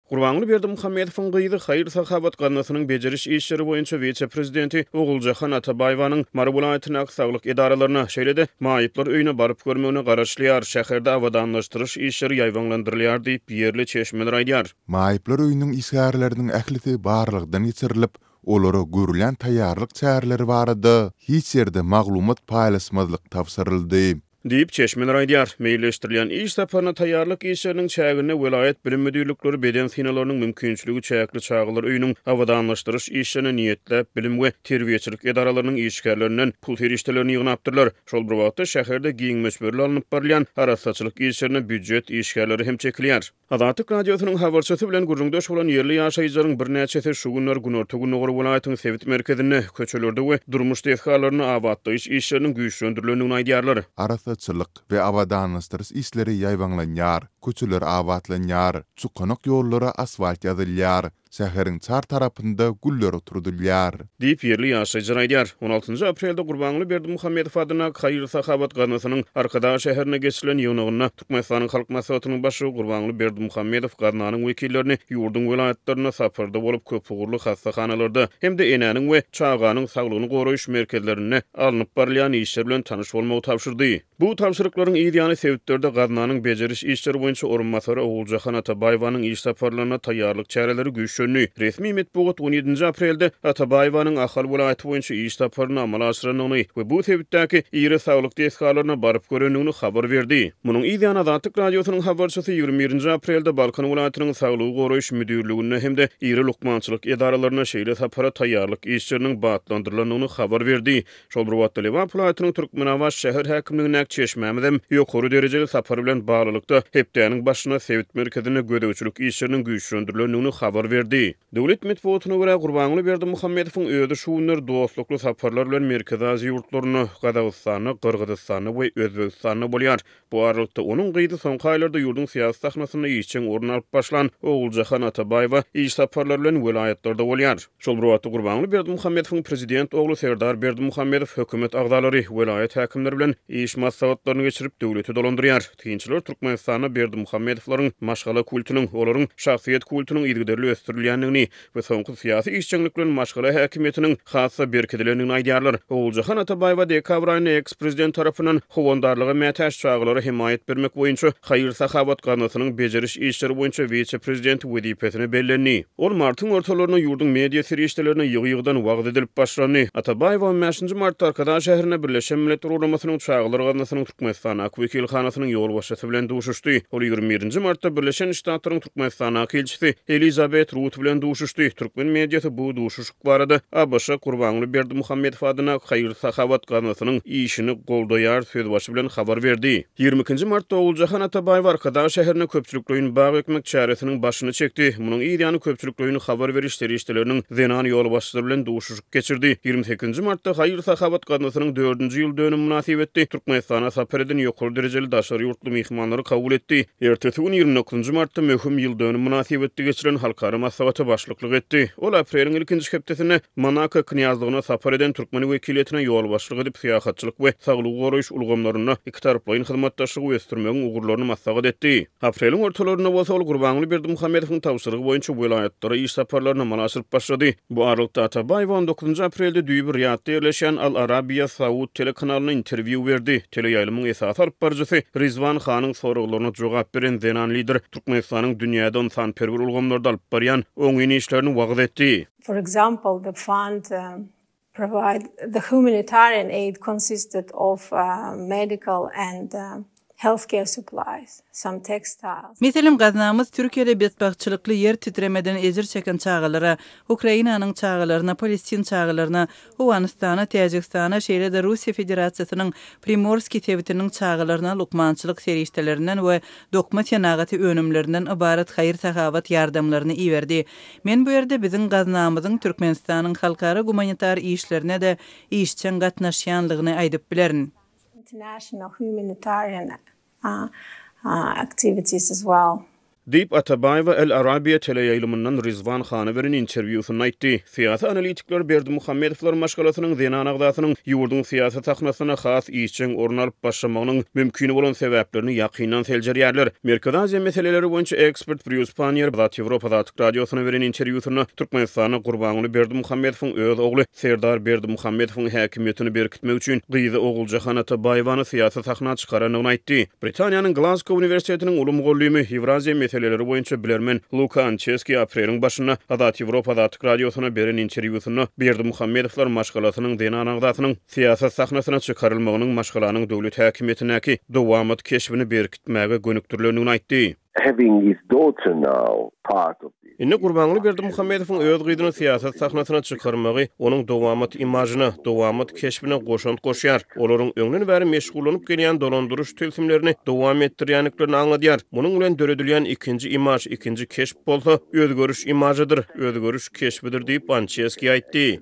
Gurbanguly Berdimuhamedowyň gyzy, haýyr-sahawat gaznasynyň bejeriş işleri boýunça wise-prezidenti Oguljahan Atabaýewanyň Mary welaýatyndaky saglyk edaralaryna, şeýle-de maýyplar öýüne baryp görmegine garaşylýar, şäherde abadanlaşdyryş işleri ýaýbaňlandyrylýar diýip, ýerli çeşmeler aýdýar. Maýyplar öýüniň işgärleriniň ählisi barlagdan geçirilip, olara görülýän taýýarlyk çäreleri barada hiç ýerde maglumat paýlaşmazlyk tabşyryldy. Diýip, çeşmeler aýdýar. Meýilleşdirilýän iş saparyna taýýarlyk işleriniň çäginde welaýat bilim müdirlikleri beden synaglarynyň mümkinçiligi çäkli çagalar öýüniň abadanlaşdyryş işlerine niýetläp bilim we terbiýeçilik edaralarynyň işgärlerinden pul serişdelerini ýygnapdyrlar. Şol bir wagtda, şäherde giň möçberli alnyp barylýan arassaçylyk işlerine býujet işgärleri hem çekilýär. Azatlyk Radiosynyň habarçysy bilen gürrüňdeş bolan ýerli ýaşaýjylaryň birnäçesi şu günler günorta-gündogar welaýatyň sebit merkezinde köçelerde we durmuş desgalarynda abatlaýyş işleriniň güýçlendirilendigini aýdýarlar. Arassaçylyk we abadanlaşdyryş işleri ýaýbaňlanýar, köçeler abatlanýar, çukanak ýollara asfalt ýazylýar, Şäheriň çar tarapynda güller oturdylýar. Diýip, ýerli ýaşaýjylar aýdýar. On altynjy aprelde Gurbanguly Berdimuhamedow adyna haýyr-sahawat gaznasynyň Arkadag şäherinde geçirilen ýygnagynda Türkmenistanyň Halk Maslahatynyň Başlygy Gurbanguly Berdimuhamedow gaznanyň wekillerini ýurduň welaýatlarynda saparda bolup köpugurly hassahanalarda hem-de enäniň we çaganyň saglygyny goraýyş merkezlerinde alnyp barylýan işler bilen tanyş bolmagy tabşyrdy. Bu tabşyryklaryň yz ýany sebitlerde gaznanyň bejeriş işleri boýunça orunbasary Oguljahan Atabaýewanyň iş saparlaryna taýýarlyk çäreleri güýçlendi. Resmi metbugat on ýedinji aprelde Atabaýewanyň Ahal welaýaty boýunça iş saparyny amala aşyrandygyny we bu sebitdäki iri saglyk desgalaryna baryp görendigini habar berdi. Munuň yz ýany Azatlyk Radiosynyň habarçysy ýigrimi birinji aprelde Balkan welaýatynyň saglygy goraýyş müdirligine hem-de iri lukmançylyk edaralaryna şeýle sapara taýýarlyk işleriniň batlandyrylandygyny habar berdi Şol bir wagtda, Lebap welaýatynyň Türkmenabat şäher häkimligindäki çeşmämizem ýokary derejeli sapar bilen baglylykda, hepdäniň başynda sebit merkezinde gözegçilik işleriniň güýçlendirilendigini habar berdi. Döwlet metbugatyna görä, Gurbanguly Berdimuhamedowyň özi şu günler dostlukly saparlar bilen Merkezi Aziýa ýurtlarynda, Gazagystanda, Gyrgyzystanda we Özbegistanda bolýar. Bu aralykda, onuň gyzy soňky aýlarda ýurduň syýasy sahnasynda işjeň orun alyp başlan Oguljahan Atabaýewa iş saparlary bilen welaýatlarda bolýar. Şol bir wagtda, Gurbanguly Berdimuhamedowyň prezident ogly Serdar Berdimuhamedow hökümet agzalary, welaýat häkimleri bilen iş maslahatlaryny geçirip, döwleti dolandyrýar. Synçylar Türkmenistanda Berdimuhamedowlaryň maşgala kultunyň, olaryň şahsyýet kultunyň yzygiderli ösdürilýändigini we soňky syýasy işjeňlik bilen maşgala häkimiýetiniň has-da berkidilendigini aýdýarlar. Oguljahan Atabaýewa dekabr aýynda eks-prezident tarapyndan Howandarlyga mätäç çagalara hemaýat bermek boýunça haýyr-sahawat gaznasynyň bejeriş işleri boýunça wise-prezidenti wezipesine bellendi. Ol martyň ortalarynda ýurduň media serişdelerine ýygy-ýygydan wagyz edilip başlandy. Atabaýewa on bäşinji martda Arkadag şäherinde Birleşen Milletler Guramasynyň Çagalar gaznasynyň Türkmenistandaky wekilhanasynyň ýolbaşçysy bilen duşuşdy. Ol ýigrimi birinji martda Birleşen Ştatlaryň Türkmenistandaky ilçisi Elizabet Rut bilen duşuşdy. Türkmen mediasy bu duşuşyk barada ABŞ-a Gurbanguly Berdimuhamedow adyndaky haýyr-sahawat gaznasynyň işini goldaýar sözbaşy bilen habar berdi. Ýigrimi ikinji martda Oguljahan Atabaýew Arkadag şäherinde köpçülikleýin bag ekmek çäresiniň başyny çekdi. Munuň yz ýany köpçülikleýin habar beriş serişdeleriniň zenan ýolbaşçylary bilen duşuşyk. geçirdi. Ýigrimi sekizinji martda haýyr-sahawat gaznasynyň dördünji ýyl dönümi mynasybetli Türkmenistana sapar eden ýokary derejeli daşary ýurtly myhmanlary kabul etdi. Ertesi gün, ýigrimi dokuzynjy martda möhüm ýyl dönümi mynasybetli geçirilen halkara maslahata başlyklyk etdi. Ol apreliň ilkinji hepdesinde Monako Knýazlygyna sapar eden türkmen wekiliýetine ýolbaşçylyk edip, syýahatçylyk we saglygy goraýyş ulgamlarynda ikitaraplaýyn hyzmatdaşlygy ösdürmegiň ugurlaryny maslahat etdi. Apreliň ortalarynda bolsa ol Gurbanguly Berdimuhamedowyň tabşyrygy boýunça welaýatlara iş saparlaryny amala aşyryp başlady. Bu aralykda Atabaýewa on dokuzynjy aprelde düýbi Riýadda ýerleşýän Al Arabiýa Saud telekanalyna interwýu berdi. Teleýaýlymyň esasy alyp baryjysy Rizwan Hanyň soraglaryna jogap beren zenan lider Türkmenistanyň dünýäde ynsanperwer ulgamlarda alyp barýan oňyn işlerini wagyz etdi. For example, the fund provide the humanitarian aid consisted of medical and healthcare supplies, some textiles. Meselem, gaznamyz Türkiýede betbagtçylykly ýer titremeden ejir çeken çagalara, Ukrainanyň çagalaryna, palestin çagalaryna, Owganystana, Täjigistana, şeýle-de Russiýa Federasiýasynyň Primorskiý sebitiniň çagalaryna lukmançylyk serişdelerinden we dokma senagaty önümlerinden ybarat haýyr-sahawat ýardamlaryny iberdi. Men bu ýerde biziň gaznamyzyň Türkmenistanyň halkara gumanitar işlerine-de işjeň gatnaşýanlygyny aýdyp bilerin. Diýip, Atabaýewa El Arabiýa teleýaýlymyndan Rizwan hana beren interwýusynda aýtdy. Syýasy analitikler Berdimuhamedowlar maşgalasynyň zenan agzasynyň ýurduň syýasy sahnasynda has işjeň orun alyp başlamagynyň mümkin bolan sebäplerini ýakyndan seljerýärler. Merkezi Aziýa meseleleri boýunça eks. Ekspert Brýus Panniýer Zat Ýewropa da Açyk Radiosyna beren interwýusynda Türkmenistanda Gurbanguly Berdimuhamedowyň öz ogly Serdar Berdimuhamedowyň häkimiýetini berkitmek üçin gyzy Oguljahan Atabaýewany syýasy sahna çykarandygyny aýtdy. Britaniýanyň Glazgo uniwersitetiniň uly mugallymy, Ýewraziýa meseleleri boýunça bilermen Luka Ançeski apreliň başynda Azat Ýewropa da Açyk Radiosyna beren interwýusynda Berdimuhamedowlar maşgalasynyň zenan agzasynyň syýasat sahnasyna çykarylmagynyň maşgalanyň döwlet häkimiýetindäki dowamat keşbini berkitmäge gönükdirilendigini aýtdy. having his daughter now part of this. Indi Gurbanguly Berdimuhamedowyň öz gyzyny syýasat sahnasyna çykarmagy onuň dowamat imažyna, dowamat keşbine goşant goşýar. Olaryň öňden bäri meşgullanyp gelýän dolandyryş tilsimlerini dowam etdirýändiklerini aňladýar. Munuň bilen döredilýän ikinji imaž, ikinji keşp bolsa, özgeriş imažydyr, özgeriş keşbidir diýip, Ançeski aýtdy.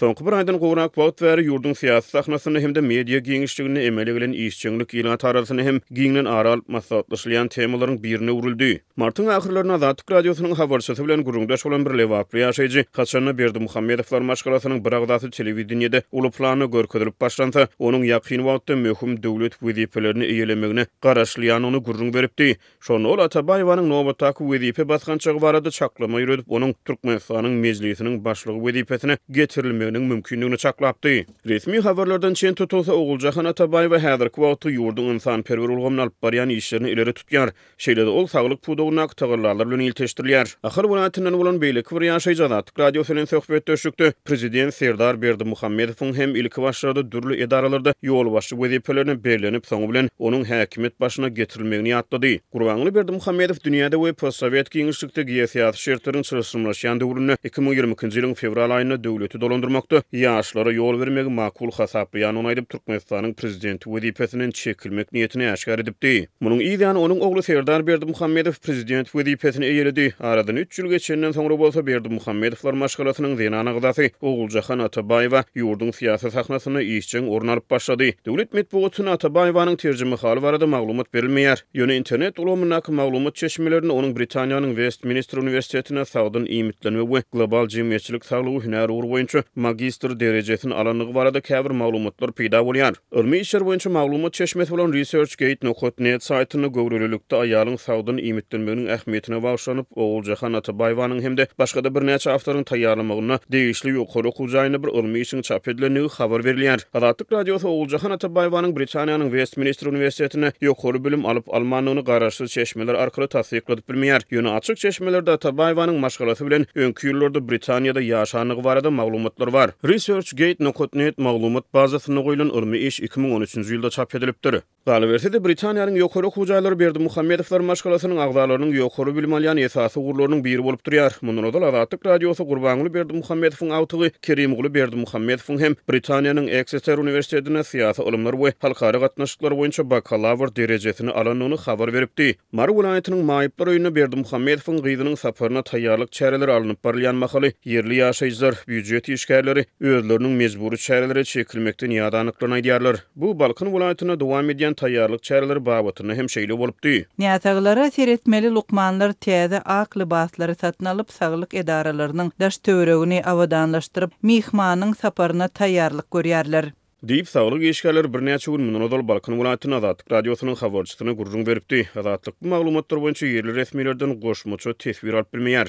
Soňky bir aýdan gowrak wagt bäri ýurduň syýasy sahnasynda hem-de media giňişliginde emele gelen işjeňlik ilat arasynda hem giňden ara alyp maslahatlaşylýan temalaryň birine öwrüldi. Martyň ahyrlarynda Azatlyk Radiosynyň habarçysy bilen gürrüňdeş bolan bir lebaply ýaşaýjy, Haçanda Berdimuhamedowlar maşgalasynyn bir agzasy telewideniýede uly planda görkezilip başlansa, onuň ýakyn wagtda möhüm döwlet wezipelerini eýelemegine garaşylýandygyny gürrüň beripdi. Şonda ol Atabaýewanyň nobatdaky wezipe basgançagy barada çaklama ýöredip, onuň Türkmenistanyň Mejlisiniň Başlygy wezipesine getirilmeginiň mümkindigini çaklapdy. Resmi habarlardan çen tutulsa, Oguljahan Atabaýewa häzirki wagtda ýurduň ynsanperwer ulgamyny alyp barýan işlerini ileri tutýar. Şeýle-de ol saglyk pudagyndaky tagallalar bilen ilteşdirilýär. Ahal welaýatyndan bolan beýleki bir ýaşaýjy Azatlyk Radiosy bilen söhbetdeşlikde prezident Serdar Berdimuhamedowyň hem ilki başlarda dürli edaralarda ýolbaşçy wezipelerine bellenip, soňy bilen onuň häkimiýet başyna getirilmegini ýatlady. Gurbanguly Berdimuhamedow dünýäde we postsowet giňişlikde geosyýasy şertleriň çylşyrymlaşýan döwründe iki müň ýigrimi ikinji ýylyň fewral aýynda döwleti dolandyrmakda ýaşlara ýol bermegi makul hasaplaýandygyny aýdyp, Türkmenistanyň prezidenti wezipesinden çekilmek niýetini äşgär edipdi. Munuň yzýany onuň ogly Serdar Berdimuhamedow prezident wezipesini eýeledi. Aradan üç ýyl geçenden soňra bolsa Berdimuhamedowlar maşgalasynyn zenan agzasy Oguljahan Atabaýewa ýurduň syýasy sahnasynda işjeň orun alyp başlady. Döwlet metbugatynda Atabaýewanyň terjimehaly barada maglumat berilmeýär. Ýöne internet ulgamyndaky maglumat çeşmelerinde onuň Britaniýanyň Westminster uniwersitetinde sagdyn iýmitlenme we global jemgyýetçilik saglygy hünär ugry boýunça magistr derejesini alandygy barada käbir maglumatlar peýda bolýar. Ylmy işler boýunça maglumat çeşmesi bolan ResearchGate nokat net saýtynda göwrelilikde aýalyň sagdyn iýmitlenmeginiň ähmiýetine bagyşlanyp, Oguljahan Atabaýewanyň hem-de başga-da birnäçe awtoryň taýýarlamagynda degişli ýokary okuw jaýynda bir ylmy işiň çap edilendigi habar berilýär. Azatlyk Radiosy Oguljahan Atabaýewanyň Britaniýanyň Westminster uniwersitetinde ýokary bilim alyp-almandygyny garaşsyz çeşmeler arkaly tassykladyp, Bilmeýärdik, ýöne açyk çeşmelerde Atabaýewanyň maşgalasy bilen öňki ýyllarda Britaniýada ýaşandygy barada maglumatlar bar. ResearchGate nokat net maglumat bazasynda goýlan ylmy iş iki müň on üçünji ýylda çap edilipdir. Galyberse-de, Britaniýanyň ýokary okuw jaýlary Berdimuhamedowlar maşgalasynyň agzalarynyň ýokary bilim alýan esasy ugurlarynyň biri bolup durýar. Mundan ozal Azatlyk Radiosy Gurbanguly Berdimuhamedowyň agtygy Kerimguly Berdimuhamedowyň hem Britaniýanyň Eksiter uniwersitetinde syýasy ylymlar we halkara gatnaşyklary boýunça bakalawr derejesini alandygyny habar beripdi. Mary welaýatynyň Maýyplar öýünde Berdimuhamedowyň gyzynyň saparyna taýýarlyk çäreleri alnyp barylýan mahaly, ýerli ýaşaýjylar, býujet işgärleri özleriniň mejbury çärelere çekilmekden ýadandyklaryny aýdýarlar. Bu Balkan welaýatynda dowam edýän taýýarlyk çäreleri babatynda hem şeýle bolupdy. Näsaglara seretmeli lukmanlar täze ak lybaslary satyn alyp, saglyk edaralarynyň daş-töweregini abadanlaşdyryp, myhmanyň saparyna taýýarlyk görýärler. Diýip, saglyk işgärleri birnäçe gün mundan ozal Balkan welaýatynda Azatlyk Radiosynyň habarçysyna gürrüň beripdi. Azatlyk bu maglumatlar boýunça ýerli resmilerden goşmaça teswir alyp bilmeýär.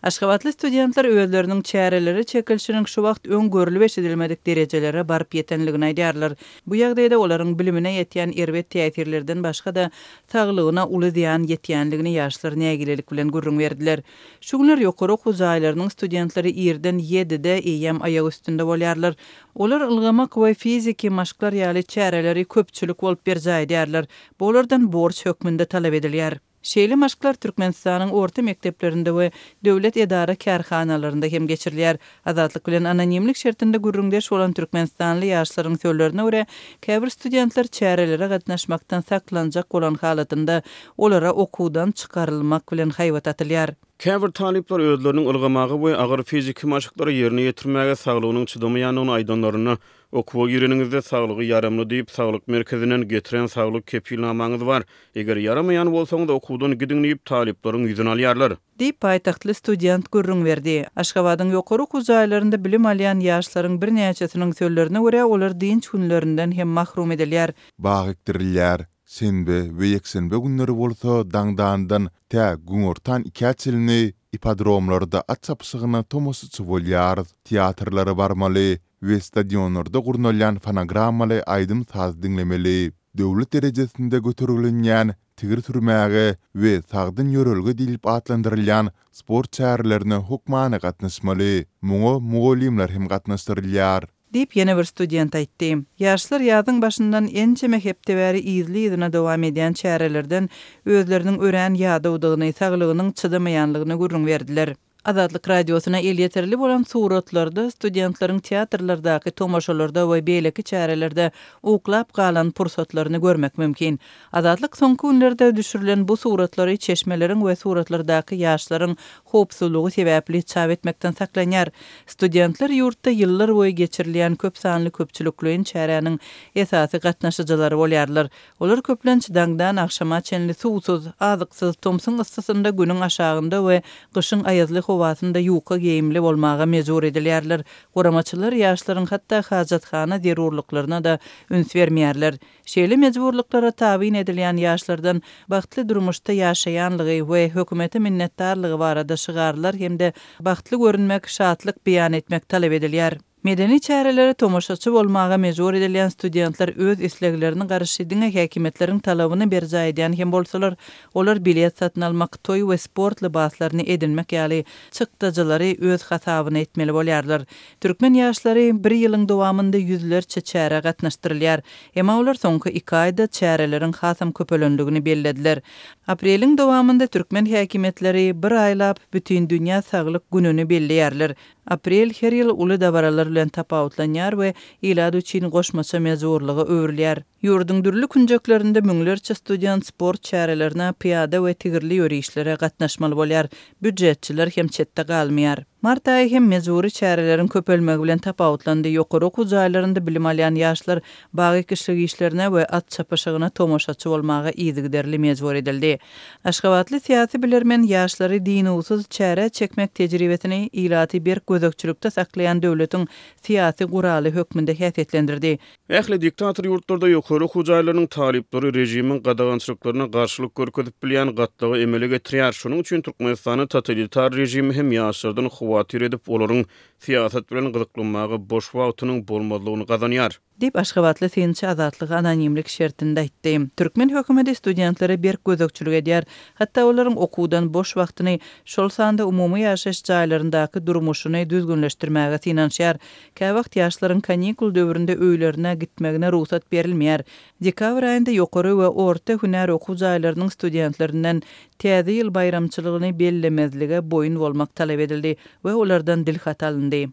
Aşgabatly studentler özleriniň çärelere çekilişiniň şu wagt öň görlüp-eşidilmedik derejelere baryp ýetendigini aýdýarlar. Bu ýagdaýda olaryň bilimine ýetýän erbet täsirlerden başga-da, saglygyna uly zyýan ýetýändigini ýaşlar nägilelik bilen gürrüň berdiler. Şu günler ýokary okuw jaýlarynyň studentleri irden ýedide eýýäm aýak üstünde bolýarlar. Olar ylgamak we fiziki maşklar ýaly çäreleri köpçülik bolup berjaý edýärler. Bu olardan borç hökmünde talap edilýär. Şeýle maşklar Türkmenistanyň orta mekdeplerinde we döwlet edara-kärhanalarynda hem geçirilýär. Azatlyk bilen anonimlik şertinde gürrüňdeş bolan türkmenistanly ýaşlaryň sözlerine görä, käbir studentler çärelere gatnaşmakdan saklanjak bolan halatynda, olara okuwdan çykarylmak bilen haýbat atylýar. Käbir talyplar özleriniň ylgamaga we agyr fiziki maşklary ýerine ýetirmäge saglygynyň çydamaýandygyny aýdanlarynda, Okuwa gireniňizde saglygy ýaramly diýip, saglyk merkezinden getiren saglyk kepilnamaňyz bar. Eger ýaramaýan bolsaňyz, okuwdan gidiň diýip, talyplaryň ýüzüni alýarlar. Diýip, paýtagtly student gürrüň berdi. Aşgabadyň ýokary okuw jaýlarynda bilim alýan ýaşlaryň birnäçesiniň sözlerine görä, olar dynç günlerinden hem mahrum edilýär. Bag ekdirilýär. Şenbe we ýekşenbe günleri bolsa daňdandan tä günortan ikä çenli ippodromlarda at çapyşygyna tomaşaçy bolýarys. Teatrlara barmaly we stadionlarda gurnalýan fonogrammaly aýdym-saz diňlemeli. Döwlet derejesinde göterilinýän tigir sürmäge we sagdyn ýörelge diýlip atlandyrylýan sport çärelerine hökmany gatnaşmaly. Muňa mugallymlar hem gatnaşdyrylýar. Diýip, ýene bir student aýtdy. Ýaşlar ýazyň başyndan ençeme hepde bäri yzly-yzyna dowam edýän çärelerden özleriniň örän ýadawdygyny, saglygynyň çydamaýanlygyny gürrüň berdiler. Azatlyk Radiosyna elýeterli bolan suratlarda studentleriň teatrlardaky tomaşalarda we beýleki çärelerde uklap galan pursatlaryny görmek mümkin. Azatlyk soňky günlerde düşürilen bu suratlary çeşmeleriň we suratlardaky ýaşlaryň howpsuzlygy sebäpli çap etmekden saklanýar. Studentler ýurtda ýyllar boýy geçirilýän köp sanly köpçülikleýin çäräniň esasy gatnaşyjylary bolýarlar. Olar köplenç daňdan agşama çenli suwsuz, azyksyz, tomsuň yssysynda, günüň aşagynda we gyşyň aýazly howasynda ýuka geýimli bolmaga mejbur edilýärler. Guramaçylar ýaşlaryň hatda hajathana zerurlyklaryna-da üns bermeýärler. Şeýle mejburlyklara tabyn edilýän ýaşlardan bagtly durmuşda ýaşaýanlygy we hökümete minnetdarlygy barada şygarlar hem-de bagtly görünmek, şatlyk beýan etmek talap edilýär. Medeni çärelere tomaşaçy bolmaga mejbur edilýän studentler öz isleglerini garşy diňe häkimiýetleriň talabyny berjaý edýän hem bolsalar, olar bilet satyn almak, toý we sport lybaslaryny edinmek ýaly çykdajylary öz hasabyna etmeli bolýarlar. Türkmen ýaşlary bir ýylyň dowamynda ýüzlerçe çärä gatnaşdyrylýar. Emma olar soňky iki aýda çäreleriň hasam köpelendigini bellediler. Apreliň dowamynda türkmen häkimiýetleri bir aýlap Bütindünýä saglyk gününi belleýärler. Aprel her ýyl uly dabaralar bilen tapawutlanýar we ilat üçin goşmaça mejburlyga öwrülýär. Ýurduň dürli künjeklerinde müňlerçe student sport çärelerine, pyýada we tigirli ýörişlere gatnaşmaly bolýar, býujetçiler hem çetde galmaýar. Mart aýy hem mejbury çäreleriň köpelmegi bilen tapawutlandy, ýokary okuw jaýlarynda bilim alýan ýaşlar bag ekişlik işlerine we at çapyşygyna tomaşaçy bolmaga yzygiderli mejbur edildi. Aşgabatly syýasy bilermen ýaşlary dynuwsyz çärä çekmek tejribesini ilaty berk gözegçilikde saklaýan döwletiň syýasy guraly hökmünde häsiýetlendirdi. Ähli diktator ýurtlarda ýokary okuw jaýlarynyň talyplary režimiň gadagançylyklaryna garşylyk görkezip bilýän gatlagy emele getirýär. Şonuň üçin Türkmenistanda totalitar režimi hem ýaşlardan howatyr edip, olaryň Syýasat bilen gyzyklanmaga boş wagtynyň bolmazlygyny gazanýar. Diýip, aşgabatly synçy Azatlyga anonimlik şertinde aýtdy. Türkmen hökümeti studentlere berk gözegçilik edýär, hatda olaryň okuwdan boş wagtyny, şol sanda umumy ýaşaýyş jaýlaryndaky durmuşyny düzgünleşdirmäge synanyşýar. Käwagt ýaşlaryň kanikul döwründe öýlerine gitmegine rugsat berilmeýär, Dekabr aýynda ýokary we orta hünär okuw jaýlarynyň studentlerinden Täze ýyl baýramçylygyny bellemezlige boýun bolmak talap edildi we olardan dilhat alyndy.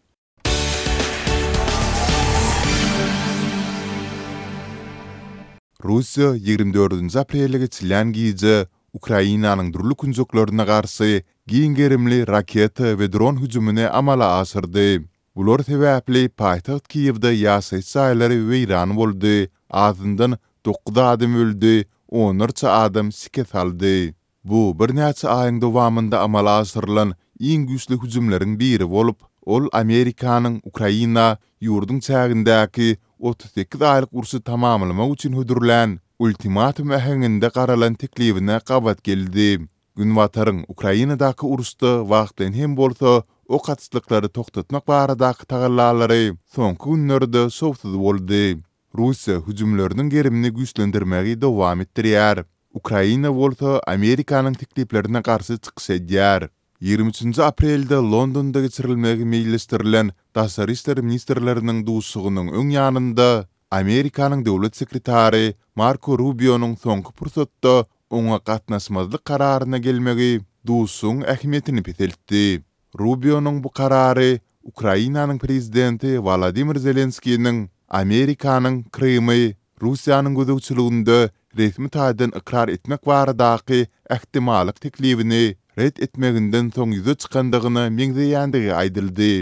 Russiýa ýigrimi dördünji aprele geçilýän gije Ukrainanyň dürli künjeklerine garşy giň gerimli raketa we dron hüjümini amala aşyrdy. Bular sebäpli paýtagt Kiýewde ýaşaýyş jaýlary weýran boldy, azyndan dokuz adam öldi, onlarça adam şikes aldy. Bu birnäçe aýyň dowamynda amala aşyrylan iň güýçli hüjümleriň biri bolup, ol Amerikanyň Ukraina ýurduň çägindäki otuz sekiz aýlyk urşy tamamlamak üçin hödürlän ultimatum äheňinde garalan teklibine gabat geldi. Günbataryň Ukrainadaky uruşda wagtlaýyn hem bolsa ok atyşlyklary togtatmak baradaky tagallalary soňky günlerde şowsuz boldy. Russiýa hüjümleriniň gerimini güýçlendirmegi dowam etdirýär. Ukraina bolsa Amerikanyň tekliplerine garşy çykyş edýär. Ýigrimi üçünji aprelde Londonda geçirilmegi meýilleşdirilen daşary işler ministrleriniň duşuşygynyň öň ýanynda Amerikanyň döwlet sekretary Marko Rubionyň soňky pursatda oňa gatnaşmazlyk kararyna gelmegi duşuşygyň ähmiýetini peseltdi. Rubionyň bu karary Ukrainanyň prezidenti Wolodymyr Zelenskiniň Amerikanyň Krymy Russiýanyň gözegçiliginde resmi taýdan ykrar etmek baradaky ähtimallyk teklibini ret etmeginden soň ýüze çykandygyna meňzeýändigi aýdyldy.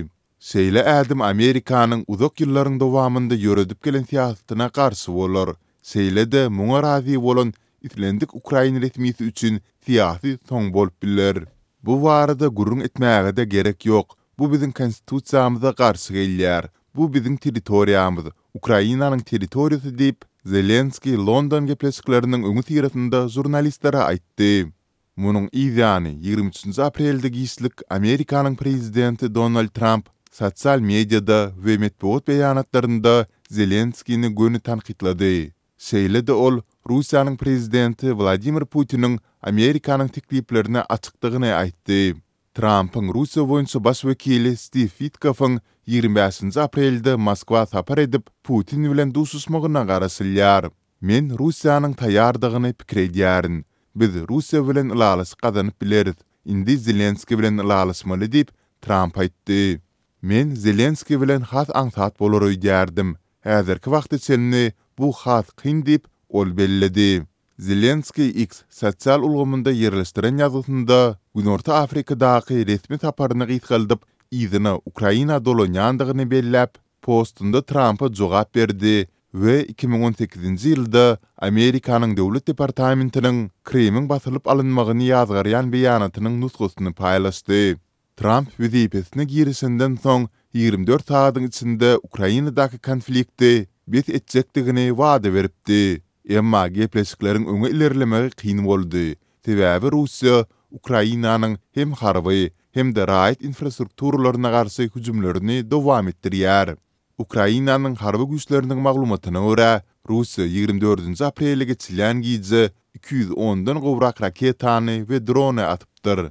Şeýle ädim Amerikanyň uzak ýyllaryň dowamynda ýöredip gelen syýasatyna garşy bolar. Şeýle-de muňa razy bolan islendik ukrain resmisi üçin syýasy soň bolup biler. Bu barada gürrüň etmäge-de gerek ýok, bu biziň konstitusiýamyza garşy gelýär, bu biziň territoriýamyz, Ukrainanyň territoriýasy diýip, Zelenskiý London gepleşikleriniň öňüsyrasynda žurnalistlere aýtdy. Munuň yz ýany, ýigrimi üçünji aprelde giçlik Amerikanyň prezidenti Donald Tramp sosial mediada we metbugat beýanatlarynda Zelenskini göni tankytlady. Şeýle-de ol Russiýanyň prezidenti Wladimir Putiniň Amerikanyň tekliplerine açykdygyny aýtdy. Trampyň Russiýa boýunça baş wekili Stiw Witkofyň ýigrimi bäşinji aprelde Moskwa sapar edip, Putin bilen duşuşmagyna garaşylýar. Men Russiýanyň taýýardygyny pikir edýärin. Biz Russiýa bilen ylalaşyk gazanyp bileris, indi Zelenskiý bilen ylalaşmaly diýip, Tramp aýtdy. Men Zelenskiý bilen has aňsat bolar öýdýärdim. Häzirki wagta çenli bu has kyn diýip, ol belledi. Zelenskiý X sosial ulgamynda ýerleşdiren ýazgysynda Günorta Afrikadaky resmi saparyny gysgaldyp, yzyna Ukraina dolanýandygyny belläp, postunda Trampa jogap berdi we iki müň on sekizinji ýylda Amerikanyň Döwlet departamentiniň Krymyň basylyp alynmagyny ýazgarýan beýanatynyň nusgasyny paýlaşdy. Tramp wezipesine girişenden soň ýigrimi dört sagadyň içinde Ukrainadaky konflikti bes etjekdigini wada beripdi, emma gepleşikleriň öňe ilerlemegi kyn boldy, Sebäbi Russiýa Ukrainanyň hem harby, hem-de raýat infrastrukturalaryna garşy hüjümlerini dowam etdirýär. Ukrainanyň harby güýçleriniň maglumatyna görä, Russiýa ýigrimi dördünji aprele geçilýän gije iki ýüz ondan gowrak raketany we drony atypdyr.